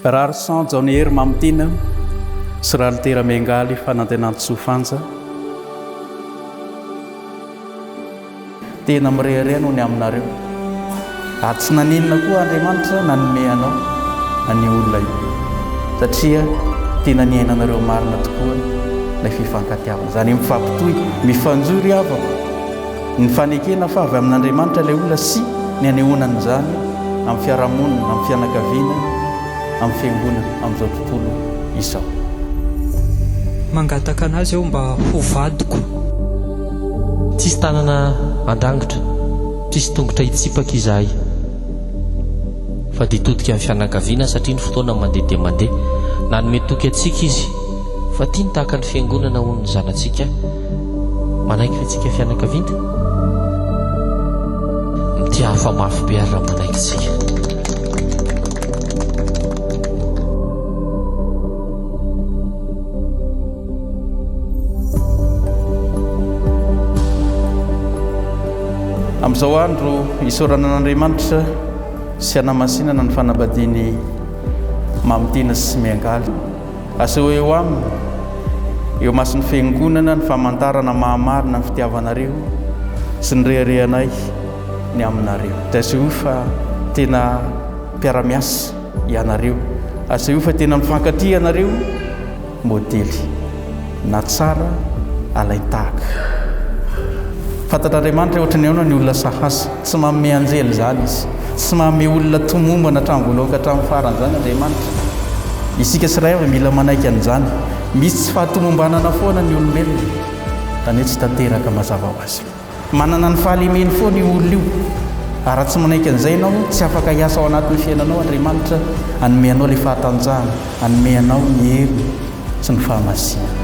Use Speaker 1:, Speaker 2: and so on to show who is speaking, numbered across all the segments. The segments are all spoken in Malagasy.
Speaker 1: Rarison Jaonihery Mamitiana sy Ralitera Miangaly Fanantenantsoa Fanja. Tena mirehareha noho ny aminareo, ary tsy naninona koa Andriamanitra nanome anao an'io olona io, satria tena niainanareo marina tokoa ilay fifankatiavana, izany hoe mifampitohy, mifanjohy ry havako. Ny fanekena fa avy amin'Andriamanitra ilay olona sy ny anehoana an'izany amin'ny fiarahamonina, amin'ny fianakaviana, amin'ny fiangonana amin'izao tontolo izao. Mangataka an'Azy aho mba ho vadiko. Tsisy tanana handrangitra, tsisy tongotra hitsipaka izahay, fa dia todika amin'ny fianakaviana satria ny fotoana mandeha dia mandeha. Nanome toky antsika Izy fa tiany tahaka ny Fiangonana ho ny zanatsika. Manaiky ve tsika fianakavinta? Mitia hafa mafy be ary raha manaiky tsika. Amin'izao andro isaorana an'Andriamanitra sy hanamasinana ny fanambadian'i Mamy Tina sy Miangaly. Aseheo eo aminy, eo imason'ny Fiangonana, ny famantarana maha-marina ny fitiavanareo sy ny reharehanay ny aminareo. Dia aseheo fa tena mpiara-miasa ianareo. Aseheo fa tena mifankatia ianareo. Modely. na tsara alain-tahaka. Fantatr'Andriamanitra hoe ohatran'ny ahoana ny olona sahasy. Tsy manome anjely izany Izy. Tsy manome olona tomombana hatramin'ny voalohany ka hatramin'ny farany izany Andriamanitra. Isika tsirairay avy mila manaiky an'izany. Misy tsy fahatomombanana foana ny olombelona, izany hoe tsy tanteraka mazava ho azy. Manana ny fahalemeny foana io olona io, ary raha tsy manaiky an'izay ianao, tsy afaka hiasa ao anatin'ny fiainanao Andriamanitra, hanome anao ilay fahatanjahana, hanome anao ny heriny sy ny fahamasinany.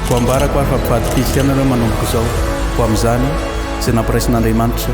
Speaker 1: Ho ambarako ary fa mpivady kristiana ianao manomboka izao, ho amin'izany izay nampiraisin'Andriamanitra.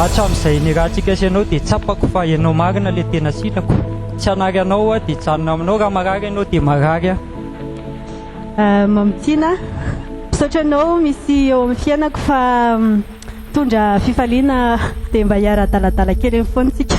Speaker 1: Hatramin'izay nirahantsika sy ianao dia tsapako fa ianao marina ilay tena sitrako. Tsy hanary anao aho dia hijanona aminao, raha marary ianao dia marary aho. Mamy Tiana, misaotra anao misy eo amin'ny fiainako fa Mitondra fifaliana dia mba hiara-hadaladala kely eny foana isika.